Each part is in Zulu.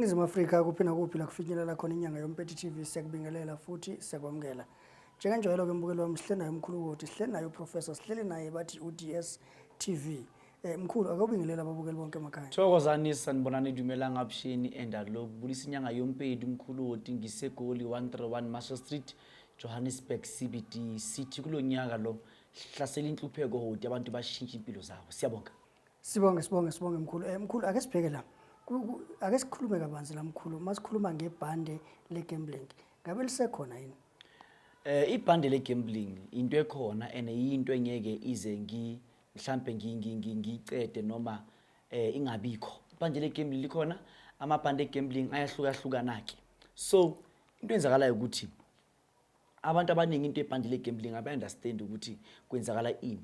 iningizimu afrika kuphi nakuphi la kufinyelela khona inyanga yompeti tv siyakubingelela futhi siyakwamukela njengenjwayelo ke mbukeli wami sihle naye umkhulukoti sihle naye uprofessor sihleli naye bathi uds tv Eh mkhulu akobingelela ababukeli bonke emakhaya. Thokozani sanibonani dumelang absheni and alok bulisa inyanga yompedi umkhulu woti ngisegoli 131 Marshall Street Johannesburg CBD sithi kulonyaka lo hlasela inhlupheko hoti abantu bashintshe impilo zabo siyabonga Sibonge sibonge sibonge mkhulu. Eh mkhulu ake sibheke la. Ku- ku- Ake sikhulume kabanzi la mkhulu. Masikhuluma ngebhande le gambling. Ngabe lisekhona yini? Eh ibhande le gambling into ekhona and into engeke ize ngi mhlampe ngi- ngi- ngi- ngiyicede noma eh ingabikho ibhande legambling likhona amabhande egambling ayahlukahlukana-ke so into enzakalayo ukuthi abantu abaningi into ebhande legambling abayi-understand ukuthi kwenzakala ini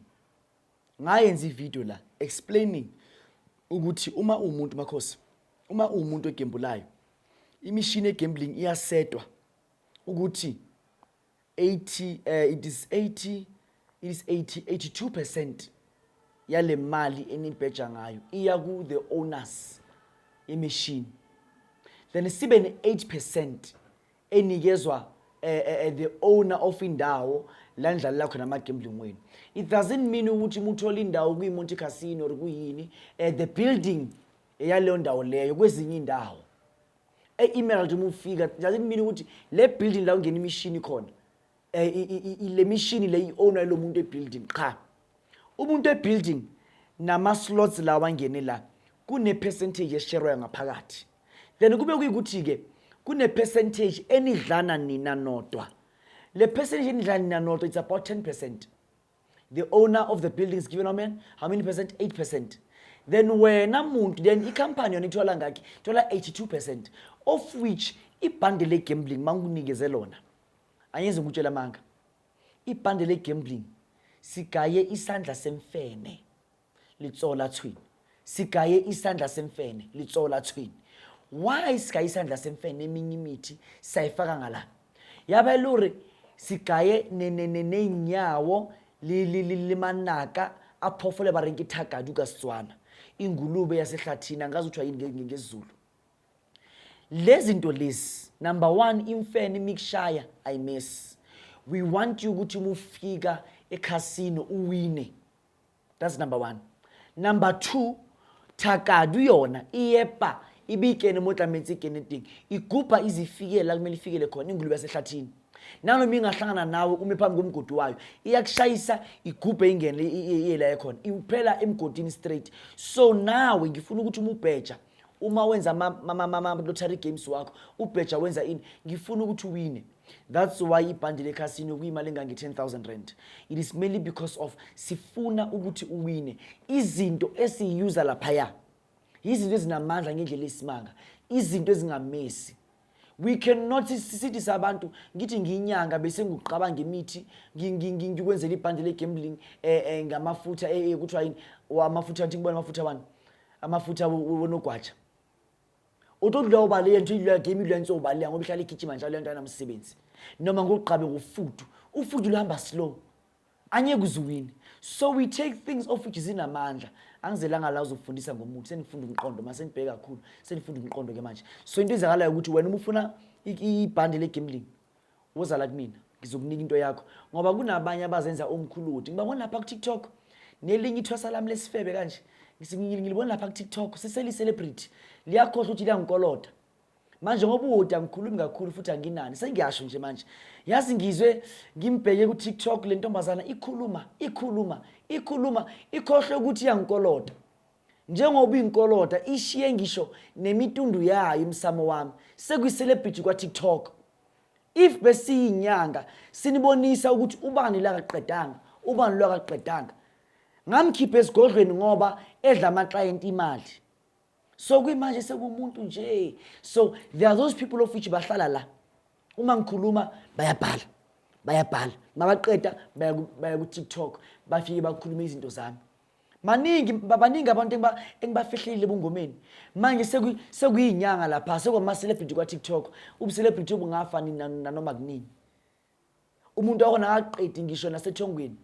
ngayenza ivideo la explaining ukuthi uma uwumuntu makhosi uma uwumuntu egembulayo imishini egambling iyasetwa ukuthi 80 uh, eh, it is 80 it is 80 82% yale mali enibheja ngayo iya ku the owners imishini then sibe ne 8% enikezwa uh, uh, the owner of indawo la nidlalela khona ama-gambling wenu it doesn't mean ukuthi muthole indawo kwimonte casino or kuyini uh, the building yaleyo ndawo leyo kwezinye indawo e-emerald uma ufika doesn't mean ukuthi le building la ungena imishini khona um le mishini le i-ownwa yilo muntu ebuilding qha umuntu ebuilding nama-slots la wangene la kune-percentage esherwayo ngaphakathi then kube kuyikuthi-ke kune-percentage enidlana nina nodwa le percentage enidlana nina nodwa it's about 10 percent the owner of the building is given how many how many percent 8 percent then wena muntu then i-company yona ithola ngakhi ithola 82 percent of which ibhande le-gambling manginikeze lona angenze ngikutshela amanga ibhande le-gambling sigaye isandla semfene litsola thwini sigaye isandla semfene litsola thwini why sigaye isandla semfene eminye imithi sayifaka ngala yabe luri sigaye neyinyawo limanaka aphofole barenke ithagadi ukasitswana ingulube yasehlathini angazi kuthiwa yini ngezulu lezi nto lezi number one imfene imikushaya ayimesi we want you ukuthi uma ufika ekhasino uwine that's number one number two thakadu yona iyepa ibikene mo tlametse ikene teng ikupa izifikela kumele ifikele khona ingulube yasehlathini nanoma ingahlangana nawe ume phambi komgodi wayo iyakushayisa igubhe ingene iyela ekhona iphela emgodini straight so nawe ngifuna ukuthi uma ubheja uma wenza ama-lottery games wakho ubheja wenza ini ngifuna ukuthi uwine that's why ibhandi lekhasino kuyimali engange-10 000 rand it is mainly because of sifuna ukuthi uwine izinto esiyiyuza laphaya yizinto ezinamandla ngendlela esimanga izinto ezingamesi we cannot sithi sabantu ngithi ngiyinyanga bese ngikuqabanga imithi ngikwenzela ibhande le-gambling eh, eh, ngamafutha eh, kuthiwa yini amafutha nthi kubona amafutha wani amafutha wonogwaja utodla ubale yento idlwa game idlwa nso ubale ngoba ihlala igijima njalo lento anamsebenzi noma ngoqabe ngofudu ufudu luhamba slow anye kuziwini so we take things off which zinamandla angizelanga la uzofundisa ngomuntu senifunda umqondo mase nibheke kakhulu senifunda umqondo ke manje so into ezakalayo ukuthi wena uma ufuna ibhande legambling woza la kumina ngizokunika into yakho ngoba kunabanye abazenza omkhuludi ngibabona lapha ku-tiktok nelinye ithwasa lami lesifebe kanje ngilibona lapha ku-tiktok siseli-celebrity liyakhohlwa ukuthi liyangikolota manje ngoba uwude angikhulumi kakhulu futhi anginani sengiyasho nje manje yazi ngizwe ngimbheke ku-tiktok le ntombazana ikhuluma ikhuluma ikhuluma ikhohlwe ukuthi iyangikolota njengoba inkolota ishiye ngisho nemitundu yayo umsamo wami sekuyiselebrity kwa-tiktok if besiyinyanga sinibonisa ukuthi ubani lakaqedanga ubani lwakaqedanga ngamkhipha esigodlweni ngoba edla amaklayenti imali so kwimanje sekumuntu nje so there are those people of which bahlala la uma ngikhuluma bayabhala bayabhala mabaqeda baya ku-tiktok bafike bakhulume izinto zami maningi baningi abantu engibafihlile ebungomeni manje sekuyinyanga lapha sekwama-celebrity kwa-tiktok ubucelebrity obungafa nanoma kunini umuntu wakhona akaqedi ngisho nasethongweni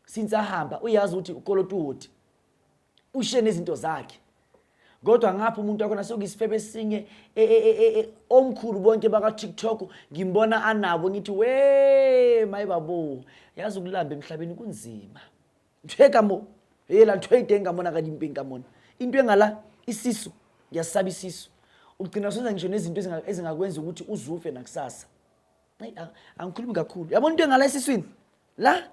since ahamba uyazi ukuthi ukolota uhoti ushiye nezinto zakhe kodwa ngapha umuntu wakhona sokuyisifebe esinye e, e, e, omkhulu bonke baka-tiktok ngimbona anabo ngithi we maye babo yazi ukulamba emhlabeni kunzima nthwekamo yela nthweyide engamona kanye impe engamona into engala isisu ngiyasaba isisu ugcina senza ngisho nezinto ezingakwenza ukuthi uzufe nakusasa Ay, ang- angikhulumi kakhulu yabona into engala esiswini la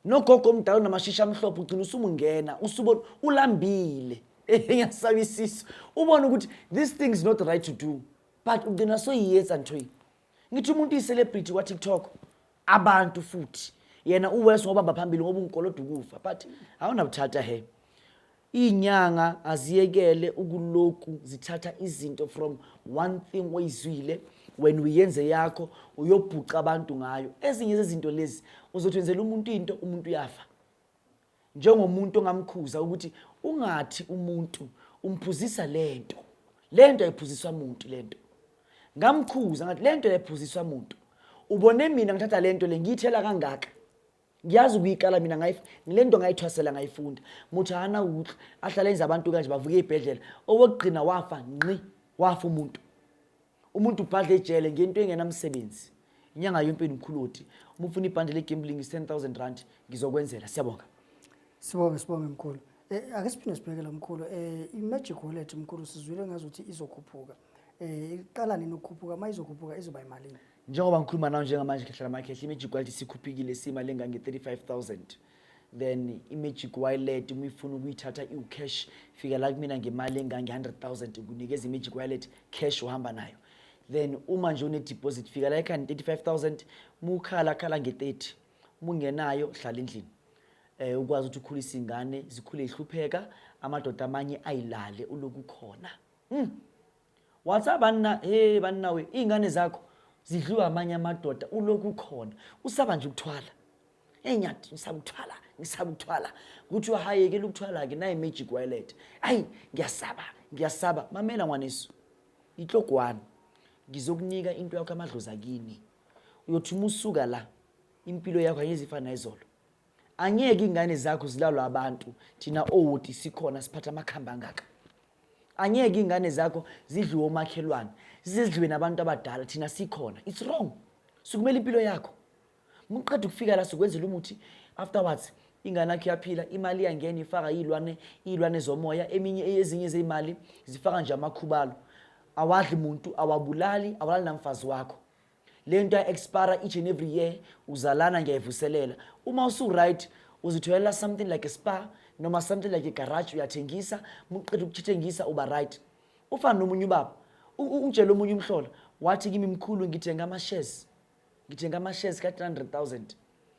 nogogo omdala unamashisha amhlophe ugcina usumungena usubona ulambile ngiyasaba isisu ubone ukuthi this thing is not right to do but ugcina soyiyenza nthoyi ngithi umuntu iyi-celebrity kwatiktok abantu futhi yena uwes ngobamba phambili ngoba ungikoloda ukufa but awunabuthatha he Inyanga aziyekele ukuloku zithatha izinto from one thing oyizwile when uyenze yakho uyobhuca abantu ngayo ezinye zezinto lezi uzothi wenzela umuntu into umuntu uyafa njengomuntu ongamkhuza ukuthi ungathi umuntu umphuzisa lento lento ayiphuziswa umuntu lento ngamkhuza ngathi lento ayiphuziswa umuntu ubone mina ngithatha lento le ngiyithela kangaka ngiyazi ukuyikala mina ngile nto ngayithwasela ngayifunda muthi hana ukuthi ahlale enza abantu kanje bavuke ey'bhedlela owokugcina wafa nqi wafa umuntu umuntu ubhadla ejele ngento engenamsebenzi inyanga yonke nomkhuloti uma ufuna ibhande legambling is-10 000 rand ngizokwenzela siyabonga sibonge sibonge mkhulu eh, ake siphinde sibheke lo mkhulu eh, i-magic wallet mkhulu sizwile ngazuthi izokhuphuka um eh, iqala nini ukukhuphuka uma izokhuphuka izoba yimalini njengoba ngikhuluma nawo njengamanje khehlela makhehla i-magic wallet sikhuphikile simali engange-35000 then i-magic wallet uma ifuna ukuyithatha iwucash fika la kumina ngemali engange-100000 ukunikeza i-magic wallet cash uhamba nayo then uma nje une-deposit fika la ekhani 35000 uma ukhala khala nge-30 uma ungenayo hlala endlini um ukwazi ukuthi ukhulise ingane zikhule ihlupheka amadoda amanye ayilale uloku khona mm. wathi abanna hey banna we izingane zakho zidliwa amanye amadoda ulokhu ukhona usaba nje ukuthwala hey nyathi ngisaba ukuthwala ngisaba ukuthwala ukuthi wahayekela ukuthwala ke nayi magic wallet ayi ngiyasaba ngiyasaba mamela ngwanesu ihlogwana ngizokunika into yakho amadlozi akini uyothi uma usuka la impilo yakho ayizifana izolo angeke ingane zakho zilalwa abantu thina owoti sikhona siphatha amakhamba angaka angeke ingane zakho zidliwe omakhelwane zidliwe nabantu abadala thina sikhona it's wrong sukumela impilo yakho muqeda ukufika la sikwenzela umuthi afterwards ingane yakho iyaphila imali iyangena ifaka iy'lwane iy'lwane zomoya eminye ezinye zey'mali zifaka nje amakhubalo awadli muntu awabulali awalali namfazi wakho le nto ya-expara each and every year uzalana ngiyayivuselela uma usu-right uzitholela something like a spa noma something like igaraji uyathengisa muqeda ukuthithengisa uba right ufana nomunye ubaba ungitshela omunye umhlola wathi kimi mkhulu ngithenga ama-shares ngithenga ama-shares ka-300 000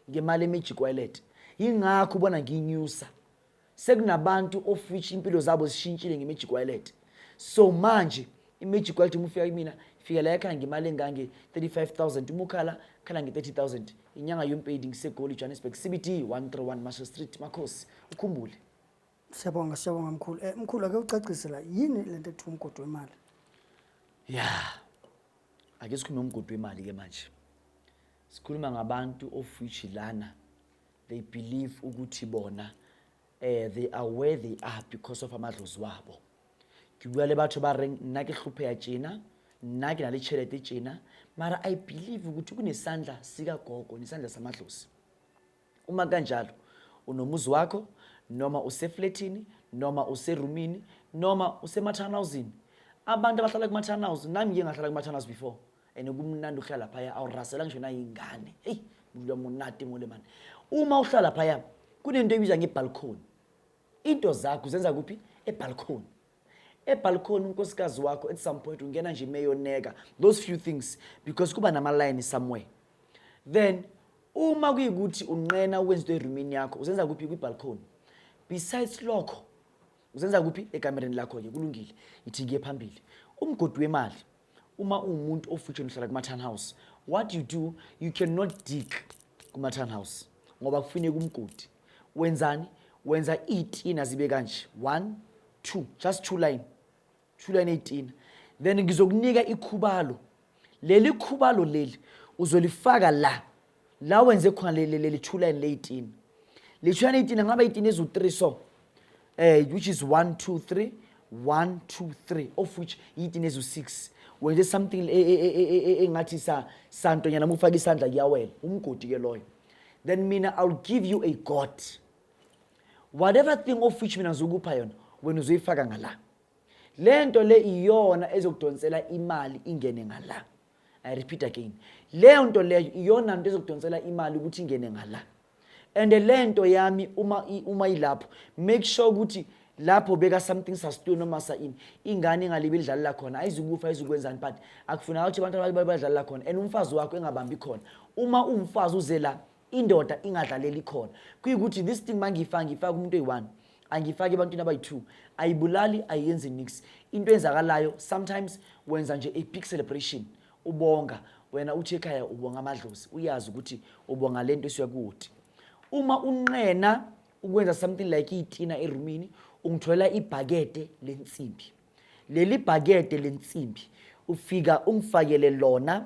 ngemali emejikwelet yingakho ubona nginyusa sekunabantu of which impilo zabo zishintshile nge-magic wallet so manje i-magic wallet uma ufika kimina fika la yakhala ngemali engange-35 000 uma ukhala khala nge-30 000 inyanga yompedi ngisegoli johannesburg cbt 131 marshall street makhosi ukhumbule siyabonga siyabonga mkhulu um eh, mkhulu ake ucacise la yini le nto ekuthiwa umgodi wemali ya ake sikhulume umgodi wemali-ke manje sikhuluma ngabantu of which lana they believe ukuthi bona eh they are where they are because of amadlozi wabo ke bua le batho ba reng nna ke hlopheya tjena nna ke na le tšhelete tjena mara i believe ukuthi kunesandla sikagogo nesandla samadlozi uma kanjalo unomuzi wakho noma usefletini noma userumini noma usemathanawuzini abantu abahlala kumathanawuzi nami ngiye ngahlala kumathanawuzi before and kumnandi ukuhlala phaya awurasela ngisho nayingane eyi mlula munati mole mani uma uhlala phaya kunento ebizwa ngebalcony into zakho zenza kuphi ebalcony ebalcony unkosikazi wakho at some point ungena nje imeyoneka those few things because kuba namalayini somewhere then uma kuyikuthi unqena ukwenza into erumini yakho uzenza kuphi kwibalcony besides lokho uzenza kuphi ekamereni lakho-ke kulungile ithi ngiye phambili umgodi wemali uma uwumuntu ofitsheni uhlala kuma-town house what you do you cannot dig kuma-town house ngoba kufuneka umgodi wenzani wenza iy'tina zibe kanje one two just two line two line ey'tina then ngizokunika ikhubalo leli khubalo leli uzolifaka la la wenze khona lelithula and leyitini lithula leyitini angaba yitini eziwu-three so eh which is one two three one two three of which yitini eziwu-six wenze something e, e, e, engathi santonyana mufake isandla kuyawela umgodi ke loyo then mina iwill give you a god whatever thing of which mina ngizokupha yona wena uzoyifaka ngala le nto le iyona ezokudonsela imali ingene ngala i repeat again leyo nto leyo iyona nto ezokudonsela imali ukuthi ingene ngala and le nto yami uma uma ilapho make sure ukuthi lapho beka something sastu noma sa ini ingane ingalibi idlalela khona ayizukufa ayizukwenzani but akufuneka ukuthi abantu abali badlalela khona and umfazi wakho engabambi khona uma umfazi uze la indoda ingadlaleli khona kuyikuthi this thing mangiyifaka ngiyifaka umuntu oyi-one angiyifaki ebantwini abayi-two ayibulali ayiyenzi nix into enzakalayo sometimes wenza nje a-big celebration ubonga wena uthi ekhaya ubonga amadlozi uyazi ukuthi ubonga le nto esuyakoti uma unqena ukwenza something like iyitina erumini ungitholela ibhakede lensimbi leli bhakede lensimbi ufika ungifakele lona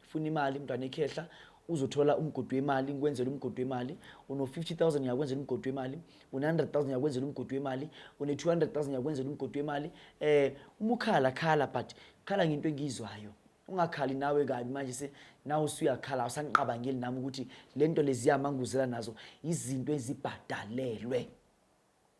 funa imali mntwana ikhehla uzothola umgodi wemali ngikwenzela umgodi wemali uno-50000 ngiyakwenzela umgodi wemali une-100000 ngiyakwenzela umgodi wemali une-200000 ngiyakwenzela umgodi wemali eh uma ukhala khala but khala ngento engiyizwayo ungakhali nawe kabi manje se nawe usuyakhala awusangiqabangeli nami ukuthi le nto leziyamanguzela nazo izinto ezibhadalelwe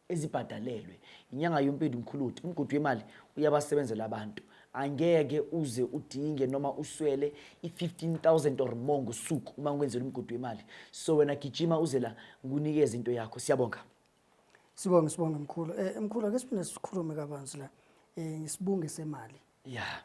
ezibhadalelwe inyanga yompedu mkhuluti umgodi wemali uyabasebenzela abantu angeke uze udinge noma uswele i-15000 or more ngosuku uma ngikwenzela umgodi wemali so wena gijima uze la nginikeze into yakho siyabonga sibonge sibonge mkhulu um mkhulu ake siphinde sikhulume kabanzi la um eh, ngisibunge semali ya yeah.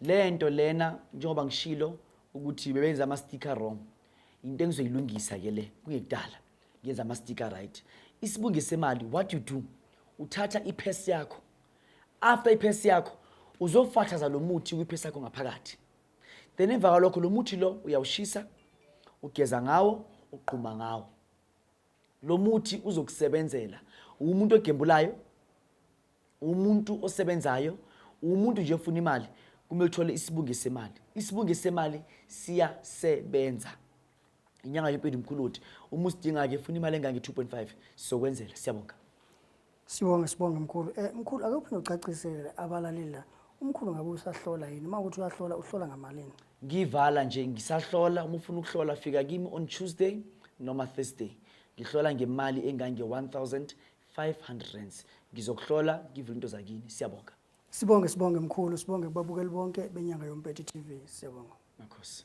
le nto lena njengoba ngishilo ukuthi bebenze ama-sticker wrong into engizoyilungisa ke le kungekudala ngenza ama-sticker right isibunge semali what you do uthatha iphesi yakho after iphesi yakho uzofathaza lo muthi kwiphesi yakho ngaphakathi then emva kwalokho lo muthi lo uyawushisa ugeza ngawo ugquma ngawo lo muthi uzokusebenzela umuntu ogembulayo umuntu osebenzayo umuntu nje ofuna imali kumele uthole isibunge semali isibunge semali siyasebenza inyanga yempilo mkhuluthi uma usidinga-ke funa imali engange-2.5 sizokwenzela siyabonga sibonge sibonge mkhulu um eh, mkhulu ake uphinde ucacisele abalaleli la umkhulu ngabe usahlola yini uma ukuthi uyahlola uhlola ngamalini ngivala nje ngisahlola uma ufuna ukuhlola fika kimi on tuesday noma thursday ngihlola ngemali engange-1000 500 rands ngizokuhlola ngivule into zakini siyabonga Sibonge sibonge mkhulu, sibonge kubabukeli bonke benyanga yoMpethu TV. Siyabonga. makhosi